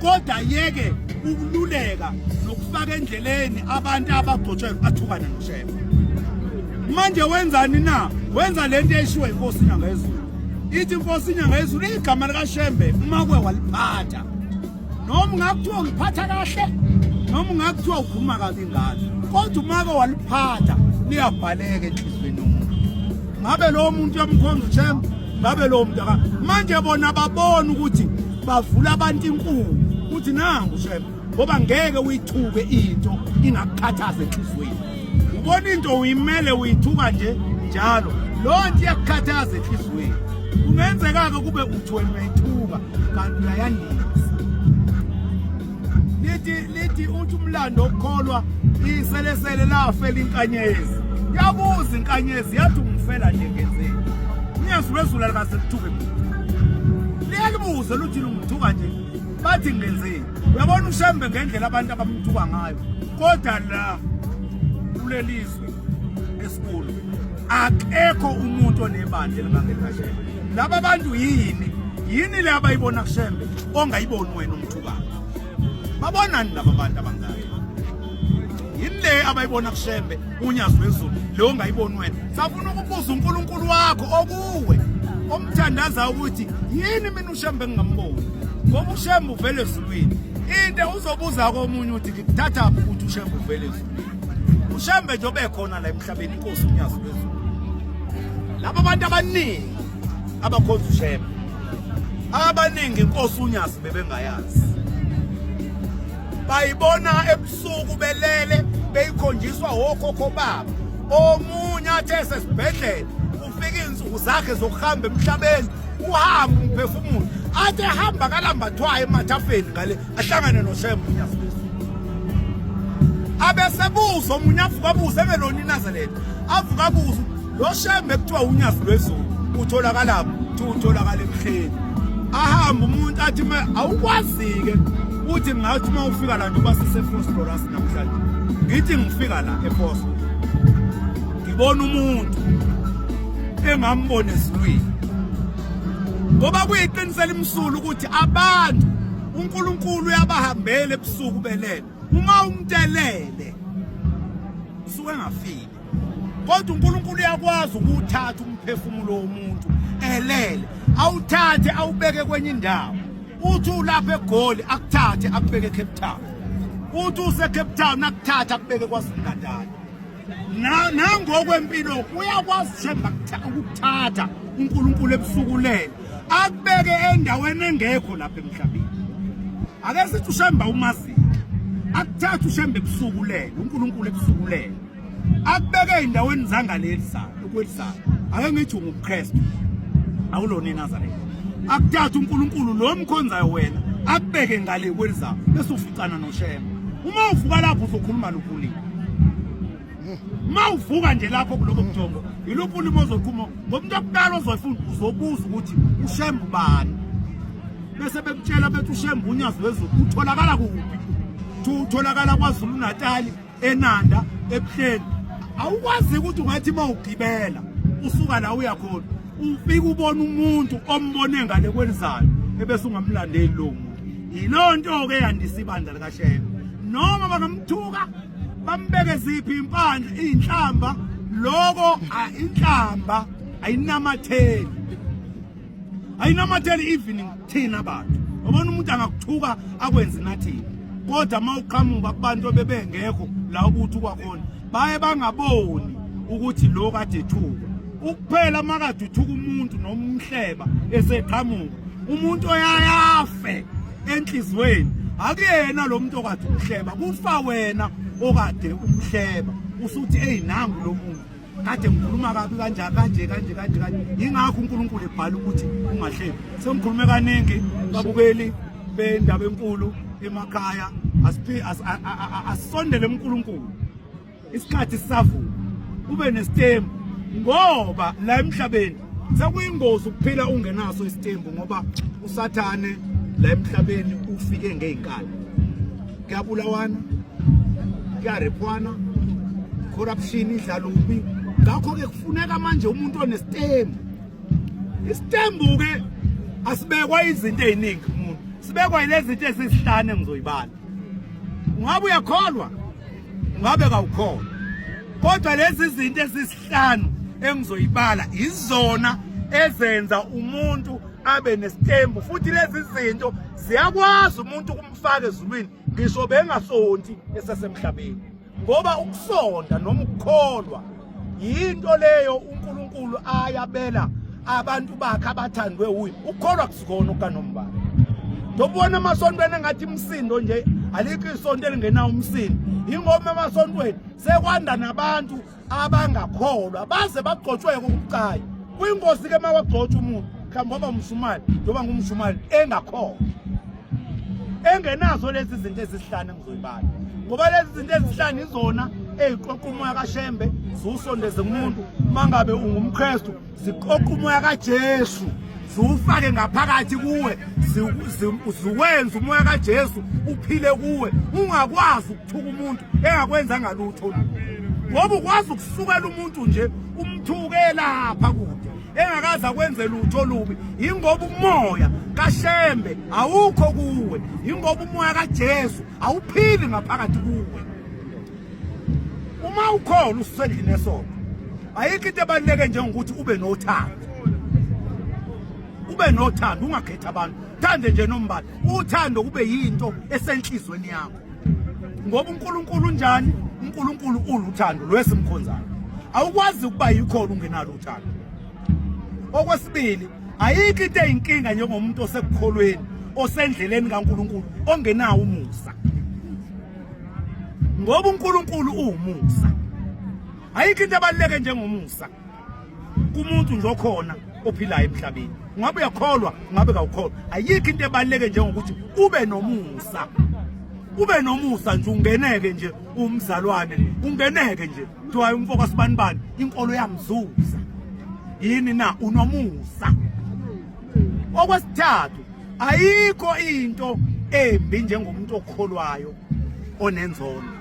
kodwa yeke ukululeka nokufaka endleleni abantu abagcotshwe bathukane noshefa manje wenzani na wenza lento eshiwe inkosi inyanga yezulu ithi inkosi inyanga yezulu igama likashembe uma kwe waliphatha noma ungakuthiwa uliphatha kahle noma ungakuthiwa ukhuluma kabi ngalo kodwa uma ke waliphatha liyabhaleka enhliziyweni yomuntu ngabe lowo muntu yamkhonza ushembe ngabe lowo muntu manje bona babona ukuthi bavula abantu inkulu ukuthi nangu shema ngoba ngeke uyithuke into ingakukhathaza enhlizweni ubona into uyimele uyithuka nje njalo loo nto iyakukhathaza enhlizweni kungenzeka-ke kube uthi wena uyayithuka kanti uyayandisa lithi lithi uthi umlando okukholwa iselesele lafela inkanyezi yabuza inkanyezi yathi ungifela nje ngenzeni uyesu lwezulu alikaze lithuke muntu liyalibuze luthi lungithuka nje bathi ngenzeni uyabona ushembe ngendlela abantu abamthuka ngayo kodwa la kulelizwe esikhulu akekho umuntu onebandla elibangekashela laba bantu yini yini le abayibona kushembe ongayiboni wena umuntu babonani laba bantu abangaka yini le abayibona kushembe unyazi wezulu le ongayiboni wena safuna ukubuza unkulunkulu wakho okuwe omthandaza ukuthi yini mina ushembe engingamboni ngoba ushembe uvele ezulwini into uzobuza komunye uthi ngikuthatha phi ukuthi ushembe uvele ezulwini ushembe nje obekhona la emhlabeni inkosi unyazi lwezulu laba bantu abaningi abakhonza ushema abaningi inkosi unyasi bebengayazi bayibona ebusuku belele beyikhonjiswa wokhokho babo omunye athe sesibhedlela ufika insuku zakhe zokuhamba emhlabeni uhamba umphefumulo athe hamba kalambathwayo emathafeni ngale ahlangane noShembe abesebuza omunye avuka abuze engelona inazaletha avuka abuze lo shembe kuthiwa unyazi lwezulu utholakalapho kuthiwa utholakala emhleni ahamba umuntu athi me awukwazi-ke uthi ngathi uma ufika la nje uba sisefosforas namhlanje ngithi ngifika la efosfo ngibona umuntu engambona ezulwini ngoba kuyiqiniso elimsulu ukuthi abantu uNkulunkulu uyabahambela ebusuku belele uma umtelele usuke engafiki kodwa uNkulunkulu uyakwazi ukuthatha umphefumulo womuntu elele awuthathe awubeke kwenye indawo uthi ulapha egoli akuthathe akubeke eCape Town uthi useCape Town akuthathe akubeke kwaZulu-Natal nangokwempilo uyakwazi shemba ukuthatha uNkulunkulu ebusukulele akubeke endaweni engekho lapha emhlabeni ake sithi ushemba umazi akuthatha ushemba ebusukulele uNkulunkulu ebusukulele akubeke endaweni zangaleli sana ukwelisayo ake ngithi unguKristu awulona iNazaretha akuthatha uNkulunkulu lo mkhonzayo wena akubeke ngale kwelizayo bese uficana noshemba uma uvuka lapho uzokhuluma lokulile uma uvuka nje lapho kulobo bujongo yiluphi ulimi ozoqhuma ngoba into yokuqala ozoyifunda uzobuza ukuthi ushembe ubani bese bekutshela bethi ushembe unyazi wezulu utholakala kuphi utholakala kwazulu natali enanda ebuhleni awukwazi ukuthi ungathi uma ugibela usuka la uya khona ufike ubona umuntu ombone ngale kwelizayo ebese ungamlandeli lo muntu yiloo nto ke yandisa ibandla likasheya noma bangamthuka bambeke ziphi impandla iy'nhlamba loko inhlamba ayinamatheli ayinamatheli even thina bantu ubona umuntu angakuthuka akwenze nathini kodwa uma uqhamuka kubantu obebengekho la ukuthi kwakhona baye bangaboni ukuthi lo kade ethuka ukuphela makade uthuka umuntu nomhleba eseqhamuka umuntu oyayafe enhlizweni akuyena lo muntu okade umhleba kufa wena okade umhleba usuthi eyi nangu lo muntu kade ngikhuluma kabi kanje kanje kanje kanje kanje yingakho unkulunkulu ebhala ukuthi ungahlebi sengikhulume kaningi babukeli bendaba enkulu emakhaya asisondele unkulunkulu isikhathi sisavuma ube nesitembu ngoba la emhlabeni sekuyingozi ukuphila ungenaso isitembu ngoba usathane la emhlabeni ufike ngey'nkala kuyabulawana kuyarephwana corruption idlala ubi ngakho-ke kufuneka manje umuntu onesitembu isitembu-ke asibekwa izinto ey'ningi kumuntu sibekwa yilezinto ezizihlane ngizoyibala ungabe uyakholwa ngabe kawukhona kodwa lezi zinto ezisihlanu engizoyibala izona ezenza umuntu abe nesithembu futhi lezi zinto ziyakwazi umuntu ukumfaka ezulwini ngisho bengasonti esesemhlabeni ngoba ukusonda noma ukukholwa yinto leyo uNkulunkulu ayabela abantu bakhe abathandwe uye ukholwa kusikona okanombala ndobona emasontweni engathi imsindo nje alikho isonto elingenawo umsindo yingoba emasontweni sekwanda nabantu abangakholwa baze bagcotshweke ukucayi kwingozi ke mawagcotshwa umuntu mhlawumbe oba umshumali njengoba ngumshumali engakholwa engenazo lezi zinto ezihlanu engizoyibala ngoba lezi zinto ezihlanu izona eziqoqa umoya kaShembe ziwusondeze kumuntu mangabe ungumKristu ziqoqa umoya kaJesu ziwufake ngaphakathi kuwe ziwenza umoya kaJesu uphile kuwe ungakwazi ukuthuka umuntu engakwenza ngalutho ngoba ukwazi ukusukela umuntu nje umthuke lapha kude engakaze akwenze lutho olubi yingoba umoya kashembe awukho kuwe yingoba umoya kaJesu awuphili ngaphakathi kuwe uma ukhona usendlini esoko ayikho into ebaluleke njengokuthi ube nothando ube nothando ungakhethi abantu thande nje nombala uthando kube yinto esenhlizweni yakho ngoba uNkulunkulu unjani uNkulunkulu uluthando lwesimkhonzayo awukwazi ukuba yikhona ungenalo uthando okwesibili ayikho into eyinkinga njengomuntu osekukholweni osendleleni kaNkulunkulu ongenawo umusa ngoba uNkulunkulu uwumusa ayikho into ebaluleke njengomusa kumuntu nje okhona ophilayo emhlabeni ngabe uyakholwa ngabe kawukholwa ayikho into ebaluleke njengokuthi ube nomusa ube nomusa nje ungeneke nje umzalwane ungeneke nje kuthiwa umfoko sibanibani inkolo yamzuza yini na unomusa okwesithathu ayikho into embi njengomuntu okholwayo onenzono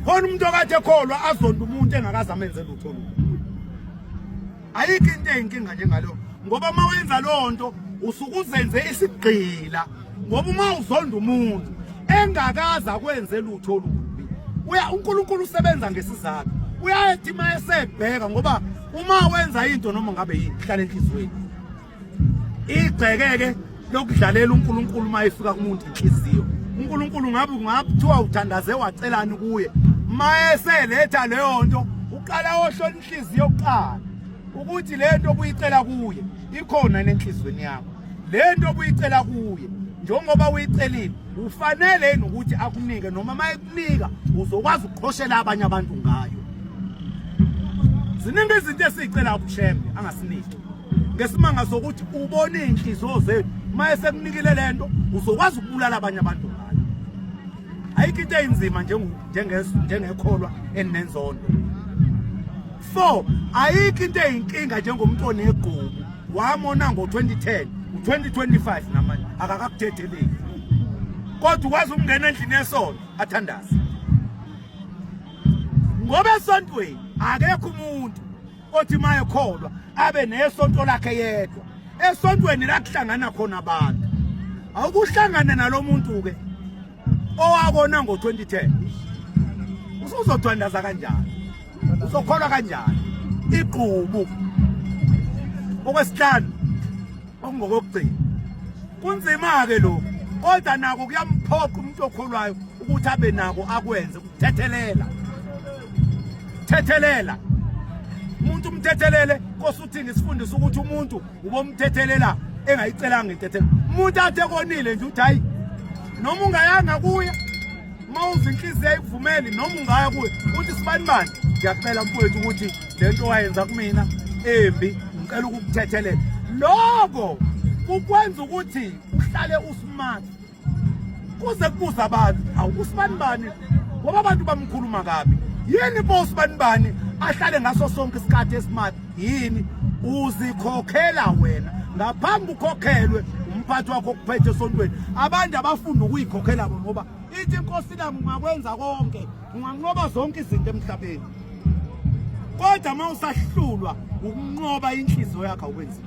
khona umuntu okade ekholwa azonda umuntu engakaze amenze lutho lutho ayikho into eyinkinga njengalo ngoba uma wenza loo nto usuke uzenze isigqila ngoba uma uzonda umuntu engakaze akwenze lutho olubi uya uNkulunkulu usebenza ngesizathu uyayethi uma esebheka ngoba uma wenza into noma ngabe yini hlale enhlizweni igcekeke lokudlalela uNkulunkulu uma efika kumuntu inhliziyo uNkulunkulu ngabe kungakuthiwa uthandaze wacelani kuye mayeseletha leyo nto uqala ohlola inhliziyo kuqala ukuthi le nto obuyicela kuye ikhona nenhliziyweni yakho le nto obuyicela kuye njengoba uyicelile ufanele yini ukuthi akunike noma uma ekunika uzokwazi ukuqhoshela abanye abantu ngayo ziningi izinto esiyicela ubushembe angasiniki ngesimanga sokuthi ubona iy'nhliziyo zethu uma esekunikile le nto uzokwazi ukubulala abanye abantu ngayo ayikho into eyinzima njengekholwa eninenzondo four ayikho into eyinkinga njengomntu onegubu wamona ngo-2010 u-2025 namanje akakakuthetheleki kodwa ukwazi ukungena endlini yesonto athandaze ngoba esontweni akekho umuntu othi mayekholwa abe nesonto lakhe yedwa esontweni la kuhlangana khona abantu awukuhlangana nalomuntu ke owakona ngo2010 usuzothandaza kanjani uzokholwa kanjani igqubu okwesihlanu okungokokugcina kunzima ke lokho kodwa nako kuyamphoqa umuntu okholwayo ukuthi abe nako akwenze thethelela thethelela umuntu umthethelele nkosi uthini sifundisa ukuthi umuntu ubomthethelela engayicelanga intethelo umuntu athe konile nje uthi hayi noma ungayanga kuye uma uze inhliziyo ayivumeli noma ungaya kuye uthi sibani bani ngiyacela mfowethu ukuthi le nto wayenza kumina embi ngicela ukukuthethelela loko kukwenza ukuthi uhlale usmart kuze kubuza abantu awu usibanibani ngoba abantu bamkhuluma kabi yini bo usibanibani ahlale ngaso sonke isikhathi esimati yini uzikhokhela wena ngaphambi ukhokhelwe umphathi wakho okuphethe esontweni abantu abafunda ukuyikhokhela bo ngoba ithi inkosi nami ungakwenza konke unganqoba zonke izinto emhlabeni kodwa uma usahlulwa ukunqoba inhliziyo yakho awukwenzi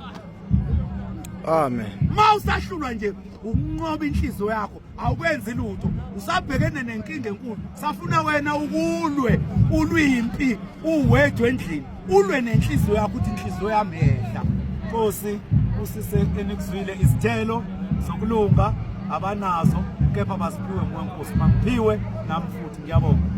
amen uma usahlulwa nje ukunqoba inhliziyo yakho awukwenzi lutho usabhekene nenkinga enkulu safuna wena ukulwe ulwimpi uwedwe endlini ulwe nenhliziyo yakho ukuthi inhliziyo yami yehla nkosi usise enikuzwile izithelo zokulunga abanazo kepha baziphiwe nguwe nkosi mangiphiwe nami futhi ngiyabonga